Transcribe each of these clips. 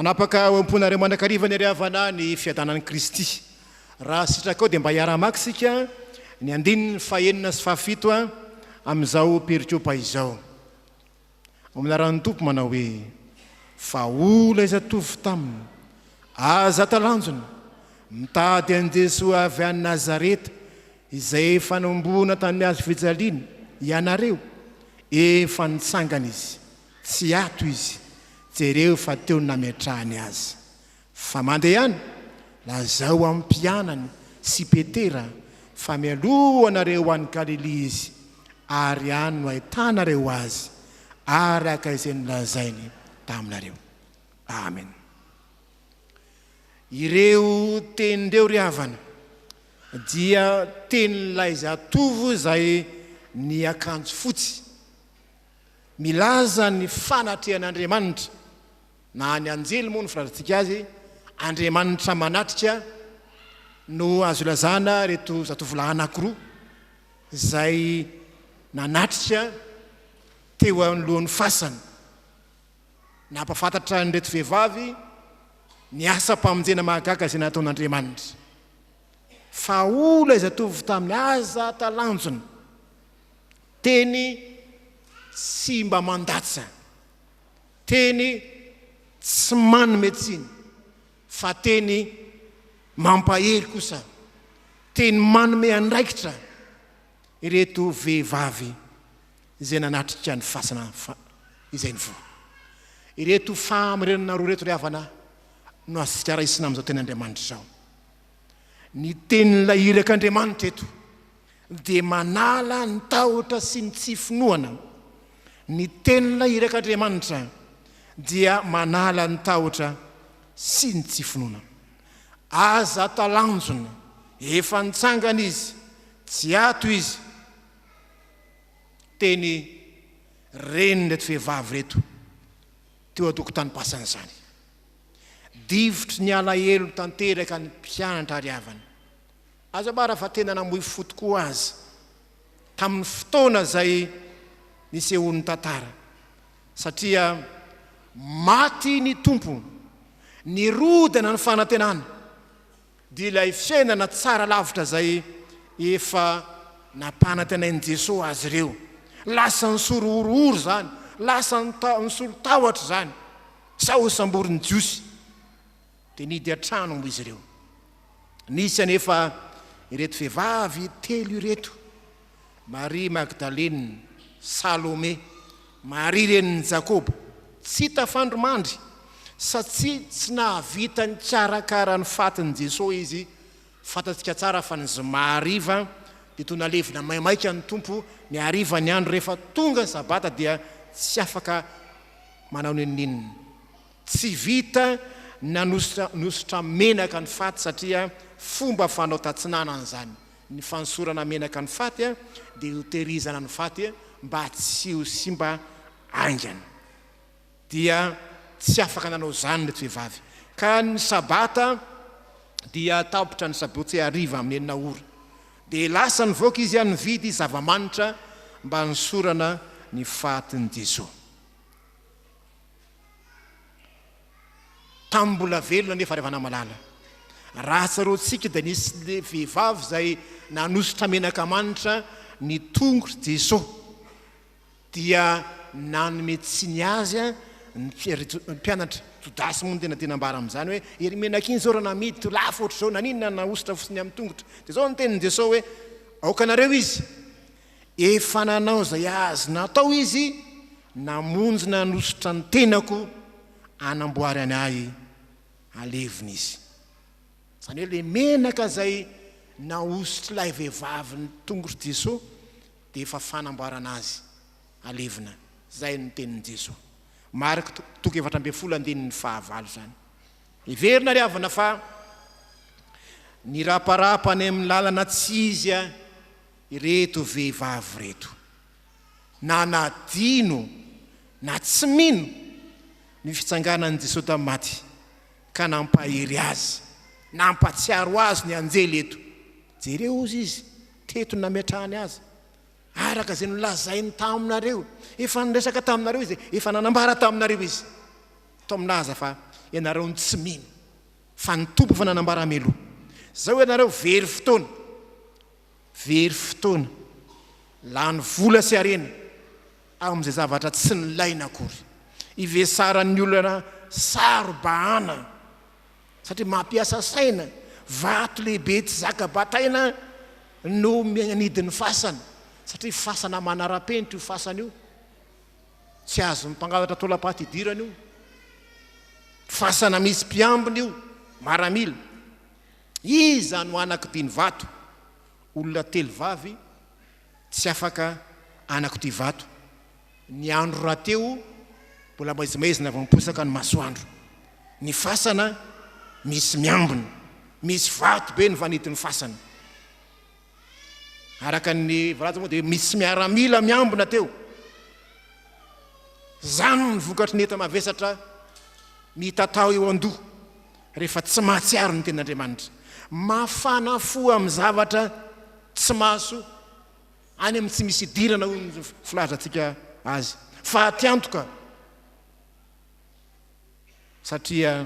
Hanapaka ao am-ponareo mandrakariva ny Ray Havanà ny fiadanan'i Kristy. Raha sitrakao dia mba hiara-hamaky isika ny andininy fahenina sy fahafito amin'izao perikopa izao. Ao amin'ny anaran'ny Tompo manao hoe, Fa o ilay zatovo taminy, Aza talanjona, mitady an'i Jesoa avy any Nazareta, izay efa nohomboana tamin'ny hazo fijaliana, ianareo. Efa nitsangana Izy. Tsy ato Izy. Jereo fa teo no nametrahany Azy. Fa mandehana, lazao amin'ny mpianany sy Petera fa mialoha anareo any Galilia izy, ary any no ahitanareo azy, araka izay nolazainy taminareo. Amena. Ireo teny ireo, ry havana, dia tenin'ilay zatovo izay niakanjo fotsy. Milaza ny fanatrehan'Andriamanitra. na ny anjely moa no filazantsika azy, andriamanitra manatrika, no azo ilazana ireto zatovolahy anankiroa izay nanatrika teo anoloan'ny fasany. Nampahafantatra an'ireto vehivavy ny asam-pamonjena mahagaga izay nataon'Andriamanitra. Fa hoy ilay zatovo taminy, Aza talanjona, teny tsy mba mandatsa. Teny tsy manome tsiny fa teny mampahery kosa, teny manome andraikitra ireto vehivavy izay nanatrika ny fasana izay nivoha. Ireto fahamarinana roa ireto ry havana no azontsika raisina amin'izao tenin'Andriamanitra izao. Ny tenin'ilay irak'Andriamanitra eto. dia manala ny tahotra sy ny tsy finoana. Ny Tenin'ilay Irak'Andriamanitra dia manala ny tahotra sy ny tsy finoana. Aza talanjona, efa nitsangana Izy, tsy ato Izy. Teny renin'ireto vehivavy ireto teo an-tokotanim-pasana izany. Difotry ny alahelo tanteraka ny mpianatra ary havany. Aza ambara fa tena namoy fo tokoa aza tamin'ny fotoana izay nisehoan'ny tantara, satria maty ny Tompo, nirodana ny fanantenana, dia ilay fiainana tsara lavitra izay efa nampanantenain'i Jesoa azy ireo, lasa nisory horohoro izany, lasa nisolo tahotra izany, sao ho samborin'ny Jiosy. Dia nihidy an-trano moa izy ireo. Nisy anefa ireto vehivavy telo ireto, Maria Magdalena, Salome, Maria renin'i Jakoba, tsy tafandrimandry satsia tsy nahavita nikarakara ny fatin'i Jesoa izy, fantatsika tsara fa ny zoma hariva dia toa nalevina maimaika ny Tompo, ny harivan'ny andro rehefa tonga ny sabata dia tsy afaka manao n'inon'inona. Tsy vita nanosotra nosotra menaka ny faty satria fomba fanao tatsinanana izany ny fanosorana menaka ny faty dia hotehirizana ny faty mba tsy ho simba haingana dia tsy afaka nanao izany ireto vehivavy ka ny sabata dia tapitra ny sabotsy hariva amin'ny enina ora dia lasa nivoaka izy nividy zava-manitra mba hanosorana ny fatin'i Dizo. Tamin'ny mbola velona anefa ry havana malala, raha tsaroantsika dia nisy vehivavy izay nanosotra menaka manitra ny tongotr'i Jesoa, dia nanome tsiny Azy ny mpianatra. Jodasy moa no tena tena ambara amin'izany hoe, iny menaka iny izao raha namidy to lafo ohatr'izao, naninona nahosotra fotsiny amin'ny tongotra? Dia izao ny tenin'i Jesoa hoe, aoka anareo izy. Efa nanao izay azony atao izy namonjy nanosotra ny tenako hanamboarany ahy halevina izy. Izany hoe ilay menaka izay nahosotr'ilay vehivavy ny tongotr'i Jesoa dia efa fanamboarana azy halevina. Izay no tenin'i Jesoa. Marc toko efatra ambin'ny folo andininy fahavalo izany. Heverina ry havana fa niraparapa any amin'ny lalana tsy izy Ireto vehivavy ireto, na nadino na tsy mino ny fitsanganan'i Jesoa tamin'ny maty, ka nampahery azy, nampatsiaro azy ny anjely eto. Jereo hozy izy teto nametrahany azy, araka izay nolazainy taminareo, efa niresaka taminareo izy, efa nanambara taminareo izy. Toa milaza fa ianareo no tsy mino, fa ny Tompo efa nanambara mialoha. Izao ianareo very fotoana. Very fotoana, lany vola sy harena amin'izay zavatra tsy nilaina akory. Ivesaran'ny olona saro-bahana satria mampiasa saina, vato lehibe tsy zaka bataina no mianidy ny fasana satria fasana manara-penitra io fasana io, tsy azon'ny mpangalatra taolam-paty idirana io, fasana misy mpiambina io, maramila. Iza no anak'ity ny vato? Olona telo vavy tsy afaka anak'ity vato. Ny andro rahateo mbola maizimaizina vao miposaka ny masoandro. Ny fasana misy miambina. Misy vato be ny vanidin'ny fasana. Araka ny voalaza moa dia misy miaramila miambina teo. Izany ny vokatry ny enta-mavesatra mitatao eo an-doha rehefa tsy mahatsiaro ny tenin'Andriamanitra. Mafana fo amin'ny zavatra tsy maso any amin'ny tsy misy idirana hoy ny filazantsika azy. Fahatiantoka satria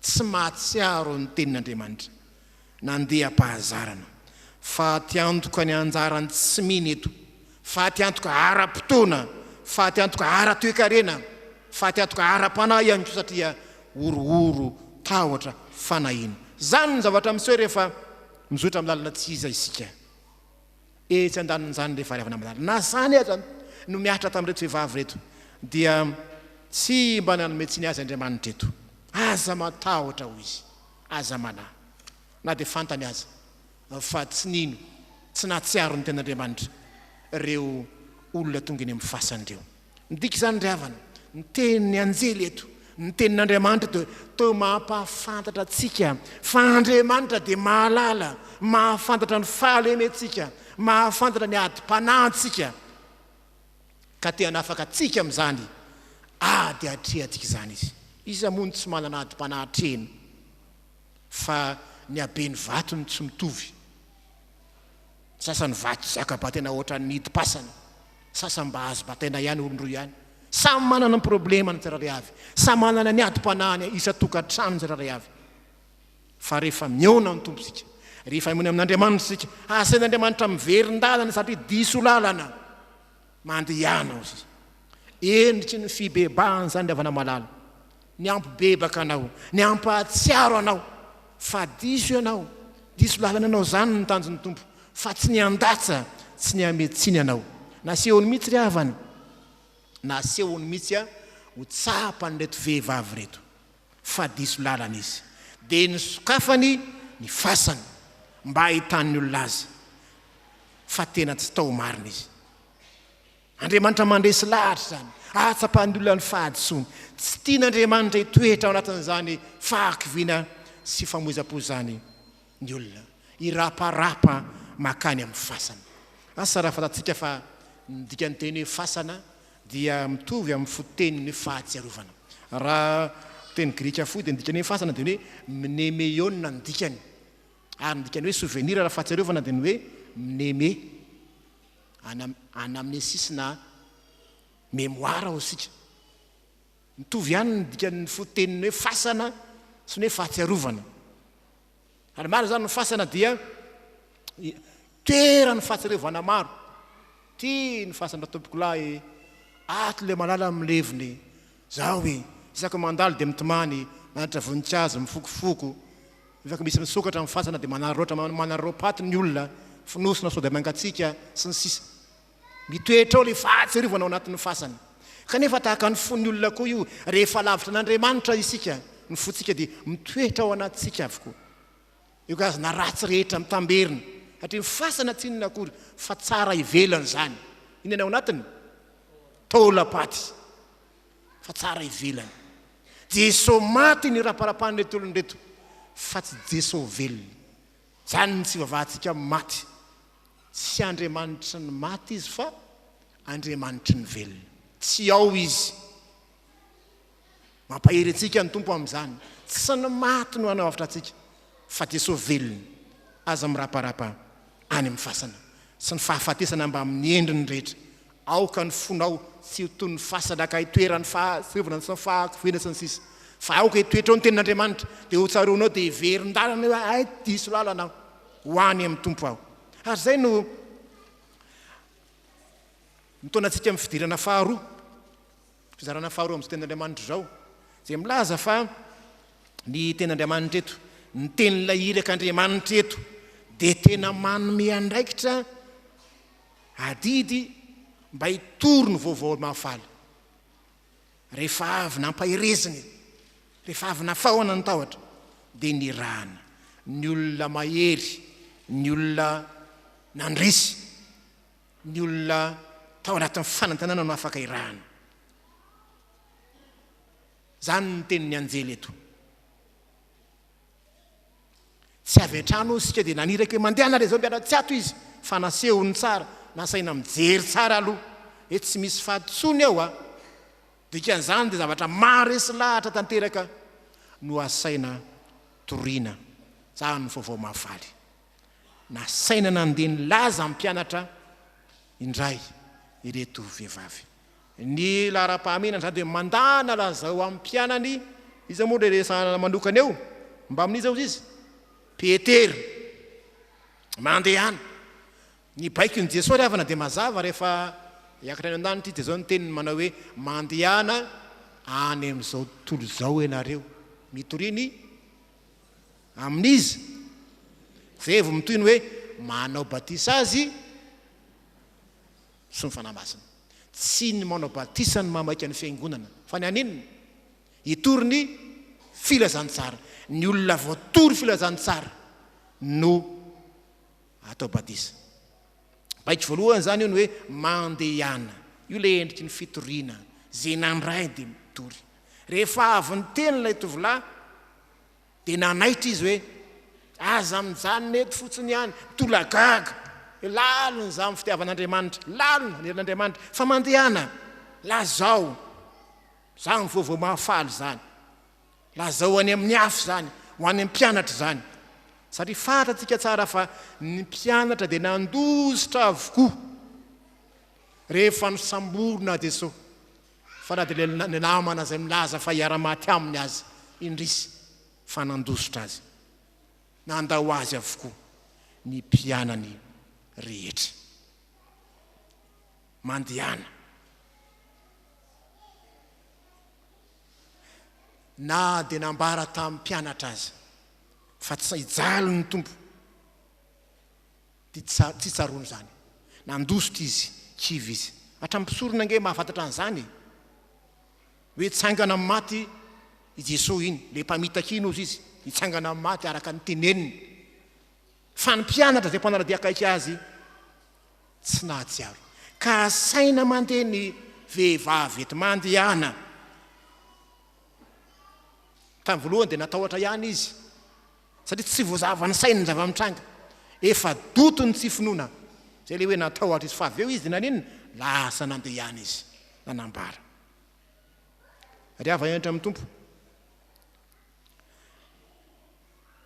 tsy mahatsiaro ny Tenin'Andriamanitra nandeham-pahazarana. Faty antoka ny anjaran'ny tsy mino eto, faty antoka ara-potoana, faty antoka ara-toekarena, faty antoka ara-panahy ihany koa satria horohoro tahotra fanahiana. Izany no zavatra miseho rehefa mizotra amin'ny lalana tsy iza isika. etsy andanin'izany rehefa ravana malala na zany aza no mihatra tamin'ireto vehivavy ireto dia tsy mba nanome tsiny azy Andriamanitra eto aza matahotra hoy izy aza manahy na dia fantany aza fa tsy nino tsy nahatsiaro ny tenin'Andriamanitra ireo olona tonga eny amin'ny fasany ireo Midika izany ry havana, ny tenin'ny anjely eto, ny tenin'Andriamanitra dia toa mampahafantatra antsika fa Andriamanitra dia mahalala, mahafantatra ny fahalementsika, mahafantatra ny adim-panahintsika, ka te hanafaka antsika amin'izany ady atrehantsika izany Izy. Iza moa no tsy manana adim-panahy atrehiny fa ny haben'ny vato no tsy mitovy? Ny sasany vaky zaka batena ohatran'ny hidim-pasana, sasany mba azo bataina ihany olon-droa ihany. Samy manana ny problema ny tsirairay avy, samy manana ny adim-panahiny isan-tokantrano ny tsirairay avy. Fa rehefa mihaona amin'ny Tompo isika, rehefa mihaona amin'Andriamanitra isika, asain'Andriamanitra miverin-dalana satria diso lalana. Mandehana hoy izy. Endriky ny fibebahana izany ry havana malala. Ny hampibebaka anao, ny hampahatsiaro anao fa diso ianao, diso lalana ianao izany ny tanjon'ny Tompo fa tsy ny handatsa, tsy ny hamehy tsiny anao. Nasehony mihitsy ry havana, nasehony mihitsy ho tsapan'ireto vehivavy ireto. fa diso lalana izy, dia nosokafany ny fasany mba hahitan'ny olona azy fa tena tsy tao marina izy. Andriamanitra mandresy lahatra izany, ahatsapan'ny olona ny fahadisoany. Tsy tian'Andriamanitra hitoetra ao anatin'izany fahakiviana sy famoizam-po izany ny olona hiraparapa makany amin'ny fasana. Asa raha fantatsika fa ny dikan'ny teny hoe fasana dia mitovy amin'ny fototeny ny hoe fahatsiarovana. Raha teny grika fohy dia ny dikany hoe fasana dia ny hoe mnemeiona ny dikany. Ary ny dikany hoe souvenir raha fahatsiarovana dia ny hoe mneme, anamnesis na memoara hoy isika. Mitovy ihany ny dikan'ny foteniny hoe fasana sy ny hoe fahatsiarovana. Ary marina izany, ny fasana dia toeran'ny fahatsiarovana maro. Ty ny fasana tompoko lahy e, ato ilay malala no milevina e, zao e, isaka mandalo dia mitomany, manatitra voninkazo, mifokofoko, mivaky misy misokatra amin'ny fasana dia manararaotra manararaopaty ny olona, fonosina sao dia mangatsiaka, sy ny sisa. Mitoetra ao ilay fahatsiarovana ao anatin'ny fasana. Kanefa tahaka ny fon'ny olona koa io, rehefa lavitra an'Andriamanitra isika, ny fontsika dia mitoetra ao anatintsika avokoa. Io karazana ratsy rehetra mitamberina, satria ny fasana tsy inona akory fa tsara ivelany izany. Inona ny ao anatiny? Taolam-paty. Fa tsara ivelany. Jesosy maty ny raparapan'ireto olona ireto, fa tsy Jesosy velona. Izany ny tsy ivavahantsika amin'ny maty. Tsy Andriamanitry ny maty Izy fa Andriamanitry ny velona. Tsy ao Izy. Mampahery antsika ny Tompo amin'izany. Tsy ny maty no hanavotra antsika, fa Jesoa velona. Aza miraparapa any amin'ny fasana sy ny fahafatesana mbamin'ny endriny rehetra. Aoka ny fonao tsy ho toy ny fasana ka hitoeran'ny fahatsorevana sy ny fahakiviana sy ny sisa Fa aoka hitoetra ao ny tenin'Andriamanitra Dia ho tsaroanao dia hiverin-dalana eo aho Ay diso lalana aho ho any amin'ny Tompo aho Ary izay no nitaona antsika amin'ny fidirana faharoa Fizarana faharoa amin'izao tenin'Andriamanitra izao Izay milaza fa ny tenin'Andriamanitra eto Ny tenin'ilay irak'Andriamanitra eto dia tena manome andraikitra Adidy mba hitory ny vaovao mahafaly. Rehefa avy nampaherezina e, rehefa avy nafaohana ny tahotra, dia nirahana. Ny olona mahery, ny olona nandresy, ny olona tao anatin'ny fanantenana no afaka irahana. Izany ny tenin'ny anjely eto. Tsy avy an-trano hoy isika dia naniraka hoe mandeha hanala izao mpianatra tsy ato izy fa nasehony tsara, nasaina mijery tsara aloha hoe tsy misy faty intsony ao a! Dikan'izany dia zavatra maharesy lahatra tanteraka no asaina toriana. Izany no vaovao mahafaly. Nasaina nandeha nilaza amin'ny mpianatra indray ireto vehivavy. Ny laharam-pahamehana izany dia mandàna lazao ho an'ny mpianany, iza moa ilay resahana manokana eo? Mbamin'iza hozy izy? Petera. Mandehana. Ny baikon'i Jesoa ry havana dia mazava rehefa hiakatra any an-danitra izy dia izao ny teniny manao hoe, mandehana any amin'izao tontolo izao ianareo. Mitoria ny amin'iza? Izay vao mitohy ny hoe manao batisa azy. sy ny Fanahy Masina. Tsy ny manao batisa no mamaika ny Fiangonana, fa ny haninona? Hitory ny Filazantsara. Ny olona voatory Filazantsara no atao batisa. Baiko voalohany izany io ny hoe mandehana. Io ilay endriky ny fitoriana, izay nandray dia mitory. Rehefa avy niteny ilay tovolahy, Dia nanaitra izy hoe, Aza mijanona eto fotsiny ihany, mitolagaga. Hoe lalina izany fitiavan'Andriamanitra, lalina ny herin'Andriamanitra. Fa mandehana, lazao. Izany vaovao mahafaly izany. Lazao any amin'ny hafa izany, ho any amin'ny mpianatra izany. Satria fantatsika tsara fa ny mpianatra dia nandositra avokoa rehefa nosamborina Jesoa. fa na dia ilay namana izay milaza fa hiara-maty aminy aza indrisy fa nandositra azy. Nandao azy avokoa ny mpianany rehetra. Mandehana. Na dia nambara tamin'ny mpianatra aza fa tsy hijaly ny Tompo. Dia tsy tsaroany izany. Nandositra izy, kivy izy. Hatramin'ny mpisorona ange mahafantatra an'izany e! Hoe tsangana amin'ny maty i Jesoa iny, ilay mpamitaka iny hozy izy, nitsangana amin'ny maty araka ny teneniny. Fa ny mpianatra izay mpanara-dia akaiky azy tsy nahatsiaro. Ka asaina mandeha ny vehivavy eto mandehana. Tamin'ny voalohany dia natahotra ihany izy. Satria tsy voazava ny sainy ny zava-mitranga. Efa doto ny tsy finoana. Izay ilay hoe natahotra izy. Fa avy eo izy dia naninona? Lasa nandeha ihany izy. Nanambara. Ry hava henatra amin'ny Tompo.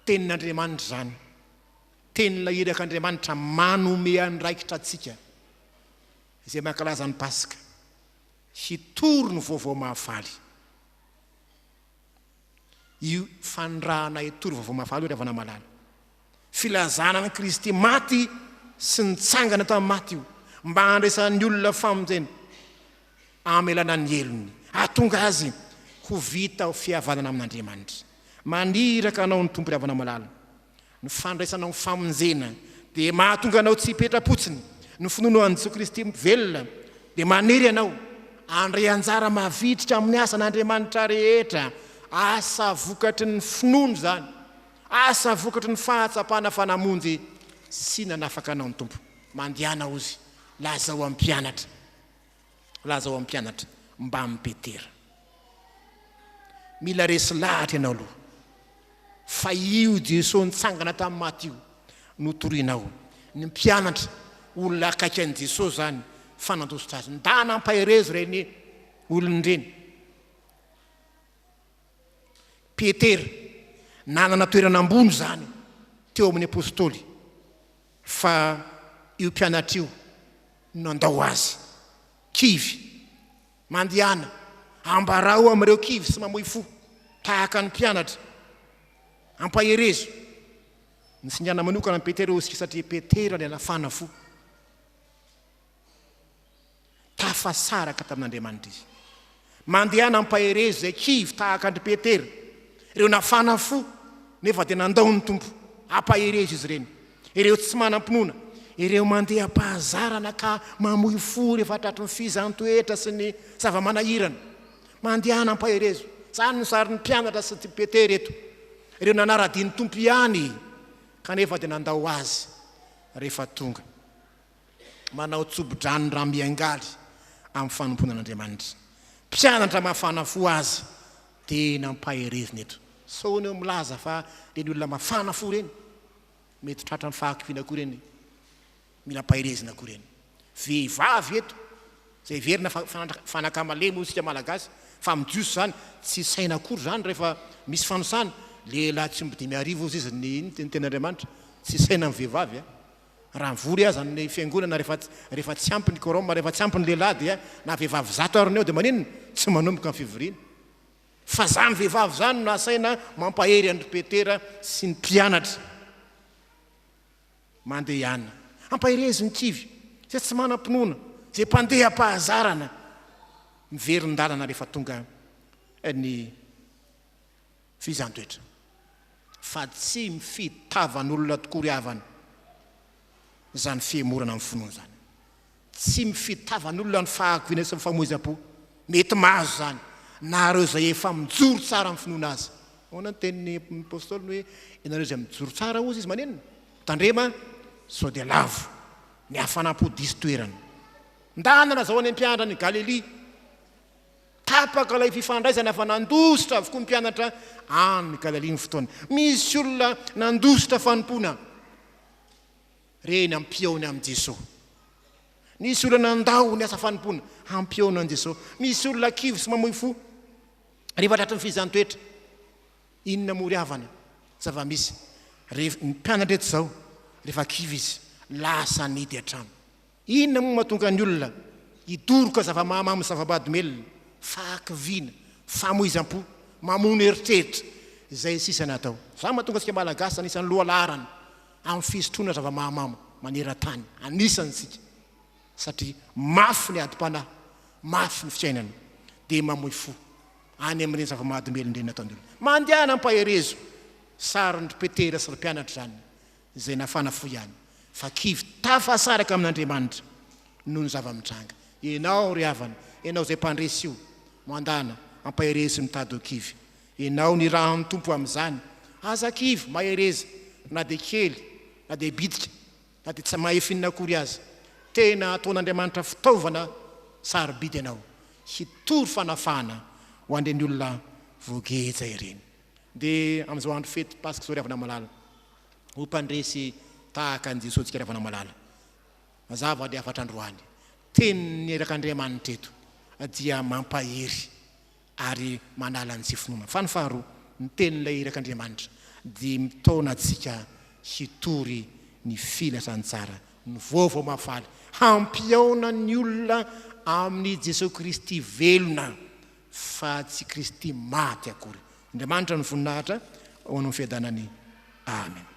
Tenin'Andriamanitra izany. Tenin'ilay irak'Andriamanitra manome andraikitra antsika. Izay mankalaza ny Paska. Hitory ny vaovao mahafaly. io fanirahana hitory vaovao mahafaly io ry havana malala. Filazana an'i Kristy maty sy nitsangana tamin'ny maty io mba handraisan'ny olona famonjena amelana ny helony, hahatonga azy ho vita ho fihavanana amin'Andriamanitra. Maniraka anao ny Tompo ry havana malala. Ny fandraisanao ny famonjena dia mahatonga anao tsy hipetra-potsiny. Ny finoanao an'i Jesoa Kristy velona dia manery anao handray anjara mavitrika amin'ny asan'Andriamanitra rehetra. Asa vokatry ny finoana izany, asa vokatry ny fahatsapana fa namonjy sy nanafaka anao ny Tompo. Mandehana, Ozy, lazao amin'ny mpianatra Lazao amin'ny mpianatra mbamin'i Petera. Mila resy lahatra ianao aloha fa io Jesoa nitsangana tamin'ny maty io no torianao. Ny mpianatra, olona akaiky an'i Jesoa izany fa nandositra azy. Ndà nampaherezo ireny olona ireny. Petera, nanana toerana ambony izany teo amin'ny apostoly. Fa io mpianatra io nandao azy. Kivy. Mandehana. Ambarao amin'ireo kivy sy mamoy fo, tahaka ny mpianatra. Ampaherezo. Nisingana manokana an'i Petera io osiky satria Petera ilay nafana fo. Tafasaraka tamin'Andriamanitry izy. Mandehana ampahereza izay kivy tahaka an-dry Petera, ireo nafana fo nefa dia nandao ny Tompo. Ampahereza izy ireny, ireo tsy manam-pinoana, ireo mandeha am-pahazarana ka mamoy fo rehefa tratry ny fihizan-toetra sy ny zava-manahirana. Mandehana ampaherezo. Izany no sarin'ny mpianatra sy i Petera eto, ireo nanara-dia ny Tompo ihany kanefa dia nandao Azy rehefa tonga. manao tsobo-drano raha miangaly amin'ny fanompoana an'Andriamanitra. Mpianatra mafana fo aza tena mpaherezina eto. Sao enao milaza fa ireny olona mafana fo ireny, mety tratran'ny fahakiviana koa ireny, mila mpaherezina koa ireny. Vehivavy eto, izay heverina fa fanaka malemy hoy isika Malagasy, fa amin'ny Jiosy izany tsy saina akory izany rehefa misy fanisana, lehilahy tsy omby dimy arivo hoy izy ny tenin'Andriamanitra, tsy saina ny vehivavy a! Raha mivory aza ny fiangonana rehefa rehefa tsy ampy ny quorum, rehefa tsy ampy ny lehilahy dia na vehivavy zato ary ny eo dia maninona tsy manomboka ny fivoriana? Fa zany vehivavy zany no asaina mampahery an-dry Petera sy ny mpianatra mandehana. Ampaherezo ny kivy, zay tsy manam-pinoana, zay mpandeha am-pahazarana, miverin-dalana rehefa tonga ny. Fizan-toetra. Fa tsy mifidy tavan'olona tokoa ry havana izany fihemorana amin'ny finoana izany. Tsy mifidy tavan'olona ny fahakiviana sy ny famoizam-po. Mety mahazo izany na ireo izay efa mijoro tsara amin'ny finoana aza. Ahoana ny tenin'ny Apostoly ny hoe ianareo izay mijoro tsara hozy izy manenina? Tandrema sao dia lavo ny hafanam-po diso toerana. Ndanana izao any am-piandran'i Galilia. Tapaka ilay fifandraisana fa nandositra avokoa ny mpianatra any Galilia ny fotoana. Misy olona nandositra fanompoana reny hampihaona amin'i Jesosy. Nisy olona nandao ny asa fanompoana hampihaona an'i Jesosy. Misy olona kivy sy mamoy fo rehefa tratry ny fihizan-toetra. Inona moa ry havana zava-misy rehefa ny mpianatra eto izao rehefa kivy izy lasa nidy an-trano. Inona moa mahatonga ny olona hidoroka zava-mahamamo sy zava-bahadomelina, fahakiviana, famoizam-po, mamono eritreritra, izay sisa ny atao. Izany mahatonga antsika Malagasy anisan'ny lohalaharana amin'ny fisotroana zava-mahamamo maneran-tany. Anisany isika satria mafy ny adim-panahy, mafy ny fiainana dia mamoy fo any amin'ireny zava-mahadomelina ireny ataon'ny olona. Mandehana ampaherezo sarin-dry Petera sy ry mpianatra izany izay nafana fo ihany fa kivy tafasaraka amin'Andriamanitra noho ny zava-mitranga. Ianao ry havana, ianao izay mpandresy io, mandana, ampaherezo sy mitady ho kivy. Ianao nirahan'ny Tompo amin'izany. Aza kivy, mahereza, na dia kely, na dia bitika, na dia tsy mahef inona akory aza. Tena ataon'Andriamanitra fitaovana sarobidy ianao, hitory fanafahana ho an'ireny olona voageja ireny. Dia amin'izao andro fety Paska izao ry havana malala, ho mpandresy tahaka an'i Jesosika Ravanamalala. Mazava ny hafatra androany. Tenin'ny erak'Andriamanitra eto dia mampahery ary manala ny tsy finoana. Fa ny faharoa, ny tenin'ilay erak'Andriamanitra dia mitaona antsika hitory ny filazantsara ny vaovao mahafaly, hampihaona ny olona amin'i Jesosy Kristy velona fa tsy Kristy maty akory. Andriamanitra ny voninahitra ho an'ny fiadanany. Amena.